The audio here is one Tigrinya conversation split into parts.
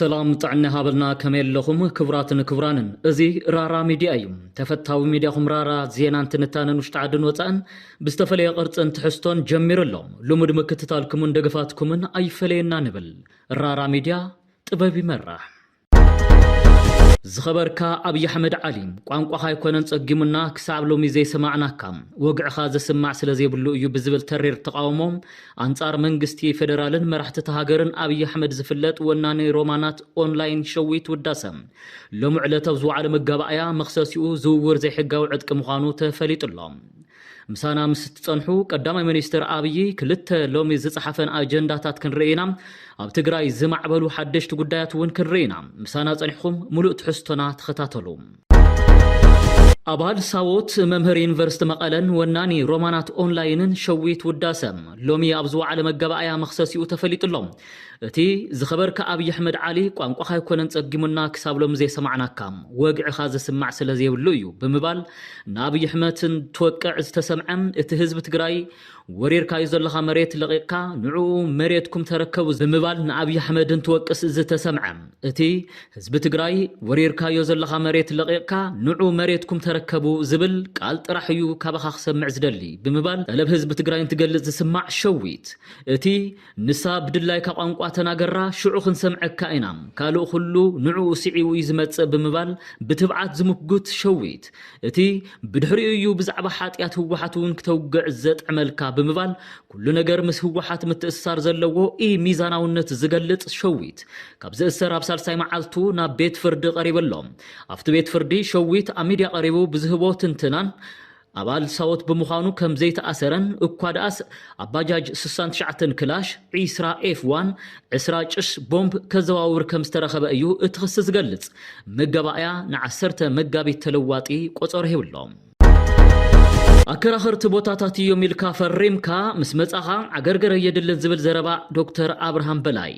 ሰላም ጥዕና ሃበልና ከመይ ኣለኹም ክቡራትን ክቡራንን እዚ ራራ ሚድያ እዩ ተፈታዊ ሚድያኹም ራራ ዜናን ትንታነን ውሽጢ ዓድን ወፃእን ብዝተፈለየ ቅርፅን ትሕዝቶን ጀሚሩ ኣሎ ልሙድ ምክትታልኩምን ደገፋትኩምን ኣይፈለየና ንብል ራራ ሚድያ ጥበብ ይመራሕ ዝኸበርካ ኣብይ ኣሕመድ ዓሊ ቋንቋኻ ኣይኮነን ጸጊሙና ክሳብ ሎሚ ዘይሰማዕናካ ወግዕኻ ዘስማዕ ስለዘይብሉ እዩ ብዝብል ተሪር ተቓውሞ ኣንጻር መንግስቲ ፌደራልን መራሕቲታ ሃገርን ኣብይ ኣሕመድ ዝፍለጥ ወናኒ ሮማናት ኦንላይን ሸዊት ውዳሰ ሎሚ ዕለት ኣብ ዝወዓለ መጋባእያ መኽሰሲኡ ዝውውር ዘይሕጋዊ ዕጥቂ ምዃኑ ተፈሊጡ ኣሎ። ምሳና ምስ እትጸንሑ ቀዳማይ ሚኒስትር ኣብዪ ክልተ ሎሚ ዝጸሓፈን ኣጀንዳታት ክንርኢ ኢና። ኣብ ትግራይ ዝማዕበሉ ሓደሽቲ ጉዳያት እውን ክንርኢ ኢና። ምሳና ጸኒሕኹም ሙሉእ ትሕዝቶና ተኸታተሉ። ኣባል ሳዎት፣ መምህር ዩኒቨርስቲ መቐለን ወናኒ ሮማናት ኦንላይንን ሸዊት ውዳሰ ሎሚ ኣብ ዝወዓለ መጋባእያ መኽሰሲኡ ተፈሊጡ'ሎ። እቲ ዝኸበርካ ኣብይ ኣሕመድ ዓሊ ቋንቋኻ ኣይኮነን ጸጊሙና ክሳብ ሎሚ ዘይሰማዕናካ ወግዕኻ ዝስማዕ ስለዘይብሉ እዩ ብምባል ንኣብይ ኣሕመት እንትወቅዕ ዝተሰምዐ እቲ ህዝቢ ትግራይ ወሪርካዩ ዘለኻ መሬት ለቒቕካ ንዕኡ መሬትኩም ተረከቡ ብምባል ንኣብይ ኣሕመድ እንትወቅስ ዝተሰምዐ እቲ ህዝቢ ትግራይ ወሪርካዮ ዘለኻ መሬት ለቒቕካ ንዑ መሬትኩም ተረከቡ ዝብል ቃል ጥራሕ እዩ ካባኻ ክሰምዕ ዝደሊ ብምባል ጠለብ ህዝቢ ትግራይ እንትገልጽ ዝስማዕ ሸዊት እቲ ንሳ ብድላይካ ቋንቋ ተናገራ ሽዑ ክንሰምዐካ ኢና ካልእ ኩሉ ንዕኡ ስዒቡ እዩ ዝመጽእ ብምባል ብትብዓት ዝምጉት ሸዊት እቲ ብድሕሪኡ እዩ ብዛዕባ ሓጥያት ህወሓት እውን ክተውግዕ ዘጥዕመልካ ብምባል ኩሉ ነገር ምስ ህወሓት ምትእስሳር ዘለዎ ኢ-ሚዛናውነት ዝገልጽ ሸዊት ካብ ዝእሰር ኣብ ሳልሳይ መዓልቱ ናብ ቤት ፍርዲ ቀሪቡ ኣሎ ኣብቲ ቤት ፍርዲ ሸዊት ኣብ ሚድያ ቀሪቡ ብዝህቦ ትንትናን ኣባል ሳወት ብምዃኑ ከም ዘይተኣሰረን እኳ ደኣስ ኣብ ባጃጅ ስሳን ትሽዓተን ክላሽ፣ ዒስራ ኤፍ ዋን፣ ዕስራ ጭስ ቦምብ ከዘዋውር ከም ዝተረኸበ እዩ እቲ ክሲ ዝገልጽ። መጋባእያ ንዓሰርተ መጋቢት ተለዋጢ ቆጸሮ ሂብሎም። ኣከራኸርቲ ቦታታት እዮም ኢልካ ፈሪምካ ምስ መጻኻ ዓገርገር ኣየድልን ዝብል ዘረባ ዶክተር ኣብርሃም በላይ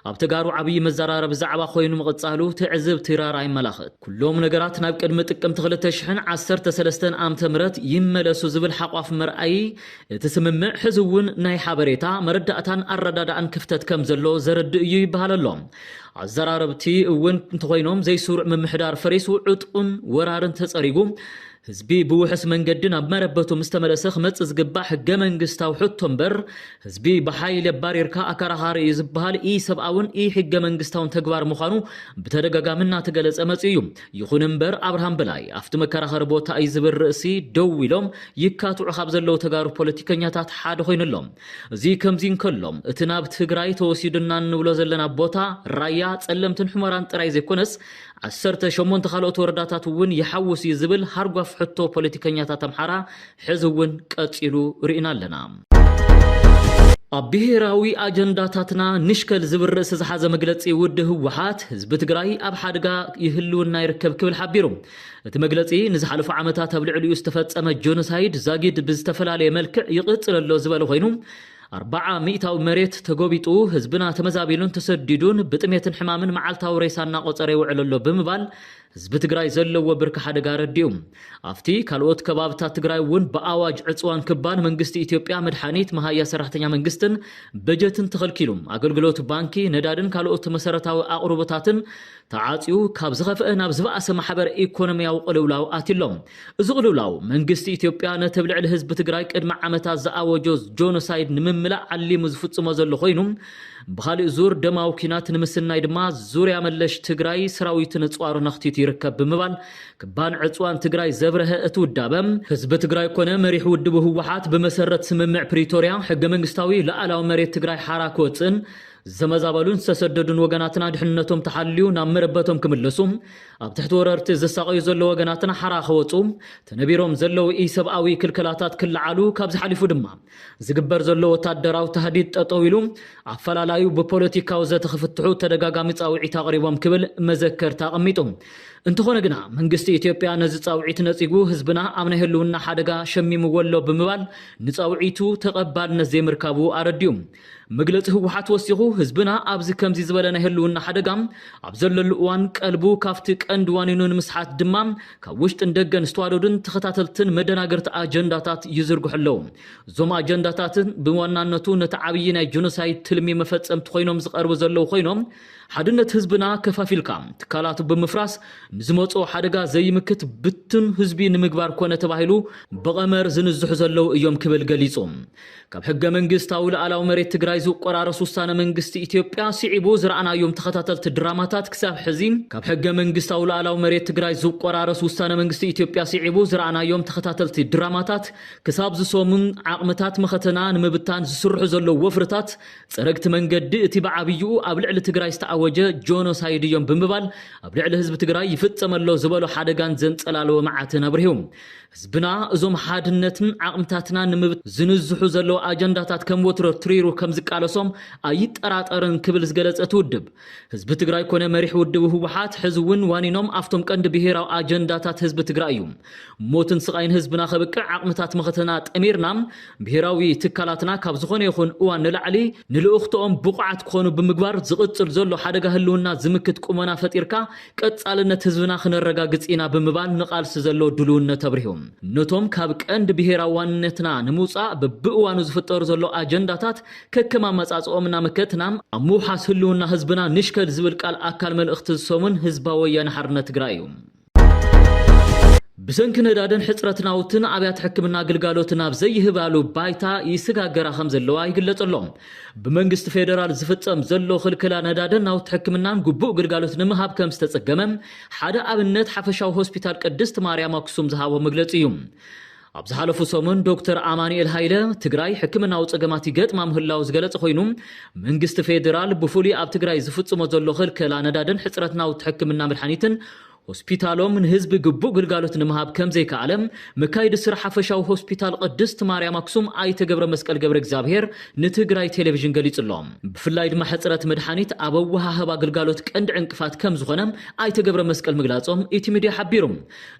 ኣብ ተጋሩ ዓብይ መዘራረቢ ዛዕባ ኮይኑ ምቕፃሉ ትዕዝብቲ ራራ የመላኽት። ኩሎም ነገራት ናብ ቅድሚ ጥቅምቲ ክልተ ሽሕን ዓሰርተ ሰለስተን ኣምተ ምህረት ይመለሱ ዝብል ሓቋፍ መርኣዪ እቲ ስምምዕ ሕዚ እውን ናይ ሓበሬታ፣ መረዳእታን ኣረዳድኣን ክፍተት ከምዘሎ ዘረድእ እዩ ይበሃል ኣሎ። ኣዘራረብቲ እውን እንተኾይኖም ዘይስሩዕ ምምሕዳር ፈሪሱ ዕጥቁን ወራርን ተፀሪጉ ህዝቢ ብውሑስ መንገዲ ናብ መረበቱ ምስ ተመለሰ ክመጽእ ዝግባእ ሕገ-መንግስታዊ ሕቶ እምበር፣ ህዝቢ ብሓይሊ ኣባሪርካ ኣከራኻሪ እዩ ዝበሃል ኢ-ሰብኣውን ኢ-ሕገ-መንግስታውን ተግባር ምዃኑ ብተደጋጋሚ እናተገለጸ መጺኡ እዩ። ይኹን እምበር ኣብርሃም በላይ ኣብቲ መከራኸሪ ቦታ እዩ ዝብል ርእሲ ደው ኢሎም ይካትዑ ካብ ዘለዉ ተጋሩ ፖለቲከኛታት ሓደ ኮይኑ ኣሎ። እዚ ከምዚ እንከሎ፣ እቲ ናብ ትግራይ ተወሲዱና እንብሎ ዘለና ቦታ፣ ራያ፣ ጸለምትን ሑመራን ጥራይ ዘይኮነስ፣ ዓሰርተ ሸሞንተ ካልኦት ወረዳታት እውን ይሓውስ እዩ ዝብል ሃርጓፍ ሕቶ ፖለቲከኛታት ኣምሓራ ሕዚ እውን ቀፂሉ ርኢና ኣለና። ኣብ ብሄራዊ ኣጀንዳታትና ንሽከል ዝብል ርእሲ ዝሓዘ መግለፂ ውድ ህወሓት ህዝቢ ትግራይ ኣብ ሓድጋ ይህልውና ይርከብ ክብል ሓቢሩ። እቲ መግለፂ ንዝሓለፉ ዓመታት ኣብ ልዕሊኡ ዝተፈፀመ ጆኖሳይድ ዛጊድ ብዝተፈላለየ መልክዕ ይቕፅል ኣሎ ዝበለ ኮይኑ ኣርባዓ ሚእታዊ መሬት ተጎቢጡ፣ ህዝብና ተመዛቢሉን ተሰዲዱን ብጥሜትን ሕማምን መዓልታዊ ሬሳ እናቖፀረ ይውዕል ኣሎ ብምባል ህዝቢ ትግራይ ዘለዎ ብርኪ ሓደጋ ኣረዲኡ። ኣብቲ ካልኦት ከባብታት ትግራይ እውን ብኣዋጅ ዕፅዋን ክባን መንግስቲ ኢትዮጵያ መድሓኒት፣ መሃያ ሰራሕተኛ መንግስትን በጀትን ተኸልኪሉ ኣገልግሎት ባንኪ፣ ነዳድን ካልኦት መሰረታዊ ኣቕርቦታትን ተዓጽዩ ካብ ዝኸፍኣ ናብ ዝበኣሰ ማሕበረ ኢኮኖሚያዊ ቅልውላው ኣትዩ ኣሎ። እዚ ቅልውላው መንግስቲ ኢትዮጵያ ነቲ ኣብ ልዕሊ ህዝቢ ትግራይ ቅድሚ ዓመታት ዝኣወጆ ጆኖሳይድ ንምምላእ ዓሊሙ ዝፍጽሞ ዘሎ ኮይኑ ብኻሊእ ዙር ደማዊ ኲናት ንምስናይ ድማ ዙርያ መለሽ ትግራይ ሰራዊቱ ነጽዋሩ ነኽቲቱ ይርከብ ብምባል ክባን ዕጽዋን ትግራይ ዘብረሀ እቲ ውዳበ ህዝቢ ትግራይ ኮነ መሪሕ ውድቡ ህወሓት ብመሰረት ስምምዕ ፕሪቶሪያ ሕገ መንግስታዊ ሉኣላዊ መሬት ትግራይ ሓራ ክወጽእን ዝተመዛበሉን ዝተሰደዱን ወገናትና ድሕንነቶም ተሓልዩ ናብ መረበቶም ክምለሱ፣ ኣብ ትሕቲ ወረርቲ ዝሳቐዩ ዘለዉ ወገናትና ሓራ ክወጹ፣ ተነቢሮም ዘለዉ ኢሰብኣዊ ክልከላታት ክለዓሉ፣ ካብዚ ሓሊፉ ድማ ዝግበር ዘሎ ወታደራዊ ታህዲድ ጠጠው ኢሉ ኣፈላላዩ ብፖለቲካዊ ዘተ ክፍትሑ ተደጋጋሚ ጻውዒት ኣቕሪቦም ክብል መዘከርታ ኣቐሚጡ። እንተኾነ ግና መንግስቲ ኢትዮጵያ ነዚ ጻውዒት ነጺጉ ህዝብና ኣብ ናይ ህልውና ሓደጋ ሸሚምዎ ኣሎ ብምባል ንጻውዒቱ ተቐባልነት ዘይምርካቡ ኣረዲኡ። መግለፂ ህወሓት ወሲኹ ህዝብና ኣብዚ ከምዚ ዝበለ ናይ ህልውና ሓደጋ ኣብ ዘለሉ እዋን ቀልቡ ካብቲ ቀንዲ ዋኒኑ ንምስሓት ድማ ካብ ውሽጥን ደገን ዝተዋደዱን ተኸታተልትን መደናገርቲ ኣጀንዳታት ይዝርግሑ ኣለዉ። እዞም ኣጀንዳታት ብዋናነቱ ነቲ ዓብዪ ናይ ጆኖሳይድ ትልሚ መፈፀምቲ ኮይኖም ዝቐርቡ ዘለዉ ኮይኖም ሓድነት ህዝብና ከፋፊልካ ትካላቱ ብምፍራስ ንዝመፅኦ ሓደጋ ዘይምክት ብትን ህዝቢ ንምግባር ኮነ ተባሂሉ ብቐመር ዝንዝሑ ዘለዉ እዮም ክብል ገሊፁ። ካብ ሕገ መንግስታዊ ልኣላዊ መሬት ትግራይ ዝቆራረስ ውሳነ መንግስቲ ኢትዮጵያ ስዒቡ ዝረኣናዮም ተኸታተልቲ ድራማታት ክሳብ ሕዚ ካብ ሕገ መንግስታዊ ልኣላዊ መሬት ትግራይ ዝቆራረስ ውሳነ መንግስቲ ኢትዮጵያ ስዒቡ ዝረኣናዮም ተኸታተልቲ ድራማታት ክሳብ ዝሰሙን ዓቕምታት መኸተና ንምብታን ዝስርሑ ዘለዉ ወፍርታት ፀረግቲ መንገዲ እቲ ብዓብይኡ ኣብ ልዕሊ ትግራይ ዝተኣወጀ ጆኖሳይድ እዮም ብምባል ኣብ ልዕሊ ህዝቢ ትግራይ ይፍፀመሎ ዝበሎ ሓደጋን ዘንፀላለወ መዓትን ኣብሪሁ። ህዝብና እዞም ሓድነትን ዓቕምታትና ንምብት ዝንዝሑ ዘለዉ ኣጀንዳታት ከም ወትሮ ትሪሩ ከም ዝቃለሶም ኣይጠራጠርን ክብል ዝገለጸ እቲ ውድብ፣ ህዝቢ ትግራይ ኮነ መሪሕ ውድቡ ህወሓት ሕዚ እውን ዋኒኖም ኣፍቶም ቀንዲ ብሄራዊ ኣጀንዳታት ህዝቢ ትግራይ እዩ። ሞትን ስቓይን ህዝብና ከብቅዕ ዓቕምታት መኸተና ጠሚርና ብሄራዊ ትካላትና ካብ ዝኾነ ይኹን እዋን ንላዕሊ ንልእኽቶኦም ብቑዓት ክኾኑ ብምግባር ዝቕጽል ዘሎ ሓደጋ ህልውና ዝምክት ቁመና ፈጢርካ ቀፃልነት ህዝብና ክነረጋግፅ ኢና ብምባል ንቓልሲ ዘለዎ ድሉውነት ኣብሪሁ። ነቶም ካብ ቀንዲ ብሄራዊ ዋንነትና ንምውፃእ በቢእዋኑ ዝፍጠሩ ዘለዉ ኣጀንዳታት ከከም ኣመፃፅእኦም እናመከትና ኣብ ምውሓስ ህልውና ህዝብና ንሽከል ዝብል ቃል ኣካል መልእኽቲ እዚ ሰሙን ህዝባዊ ወያነ ሓርነት ትግራይ እዩ። ብሰንኪ ነዳድን ሕፅረት ናውትን ኣብያተ ሕክምና ግልጋሎት ናብ ዘይህባሉ ባይታ ይስጋገራ ከምዘለዋ ይግለፅ ኣሎ። ብመንግስቲ ፌደራል ዝፍፀም ዘሎ ክልክላ ነዳድን ናውቲ ሕክምናን ግቡእ ግልጋሎት ንምሃብ ከምዝተፀገመ ሓደ ኣብነት ሓፈሻዊ ሆስፒታል ቅድስት ማርያም ኣክሱም ዝሃቦ መግለፂ እዩ። ኣብ ዝሓለፉ ሰሙን ዶክተር ኣማኑኤል ሃይለ ትግራይ ሕክምናዊ ፀገማት ይገጥማ ምህላው ዝገለፀ ኮይኑ መንግስቲ ፌደራል ብፍሉይ ኣብ ትግራይ ዝፍፅሞ ዘሎ ክልከላ ነዳድን ሕፅረት ናውቲ ሕክምና መድሓኒትን ሆስፒታሎም ንህዝቢ ግቡእ ግልጋሎት ንምሃብ ከምዘይከኣለ መካይዲ ስራሕ ሓፈሻዊ ሆስፒታል ቕድስት ማርያም ኣክሱም ኣይተ ገብረመስቀል ገብረእግዚኣብሄር ንትግራይ ቴሌቪዥን ገሊፁ'ሎ። ብፍላይ ድማ ሕፅረት መድሓኒት ኣብ ኣወሃህባ ግልጋሎት ቀንዲ ዕንቅፋት ከምዝኾነ ኣይተ ገብረመስቀል ምግላፆም ኢቲ ሚድያ ሓቢሩ።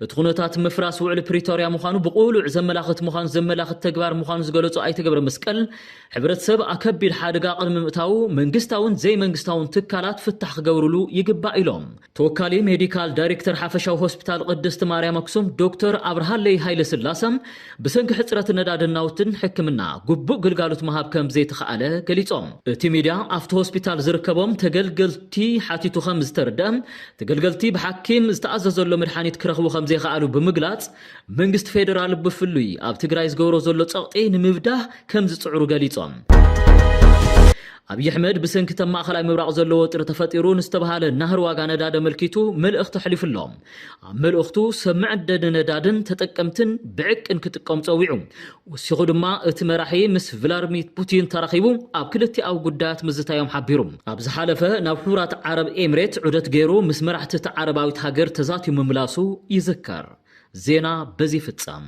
እቲ ኹነታት ምፍራስ ውዕሊ ፕሪቶርያ ምዃኑ ብቕሉዕ ዘመላኽት ምዃኑ ዘመላኽት ተግባር ምዃኑ ዝገለፁ ኣይተ ገብረመስቀል ሕብረተሰብ ኣከቢድ ሓደጋ ቕድሚ ምእታዉ መንግስታውን ዘይመንግስታውን ትካላት ፍታሕ ክገብርሉ ይግባእ ኢሎም። ተወካሊ ሜዲካል ዳይሬክተር ሓፈሻዊ ሆስፒታል ቅድስቲ ማርያም ኣክሱም ዶክተር ኣብርሃለይ ሃይለስላሰ ብሰንኪ ሕፅረት ነዳድን ናውትን ሕክምና ግቡእ ግልጋሎት ምሃብ ከምዘይተኽኣለ ገሊፆም። እቲ ሚድያ ኣብቲ ሆስፒታል ዝርከቦም ተገልገልቲ ሓቲቱ ከምዝተረድኣ ተገልገልቲ ብሓኪም ዝተኣዘዘሎ መድሓኒት ክረኽቡ ከምዘይኸኣሉ ብምግላፅ መንግስቲ ፌደራል ብፍሉይ ኣብ ትግራይ ዝገብሮ ዘሎ ፀቕጢ ንምብዳህ ከምዝፅዕሩ ገሊፆም። ኣብይ ኣሕመድ ብሰንኪ እተብ ማእኸላይ ምብራቕ ዘሎ ወጥሪ ተፈጢሩ ንዝተብሃለ ናህሪ ዋጋ ነዳዲ ኣመልኪቱ መልእኽቲ ኣሕሊፉ ኣሎ። ኣብ መልእኽቱ ሰብ መዐደኒ ነዳድን ተጠቀምቲን ብዕቅን ክጥቀሙ ፀዊዑ። ወሲኹ ድማ እቲ መራሒ ምስ ቭላርሚት ፑቲን ተራኺቡ ኣብ ክልቲኣዊ ጉዳያት ምዝታዮም ሓቢሩ። ኣብ ዝሓለፈ ናብ ሕቡራት ዓረብ ኤምሬት ዑደት ገይሩ ምስ መራሕቲ እታ ዓረባዊት ሃገር ተዛትዩ ምምላሱ ይዝከር። ዜና በዚ ይፍፀም።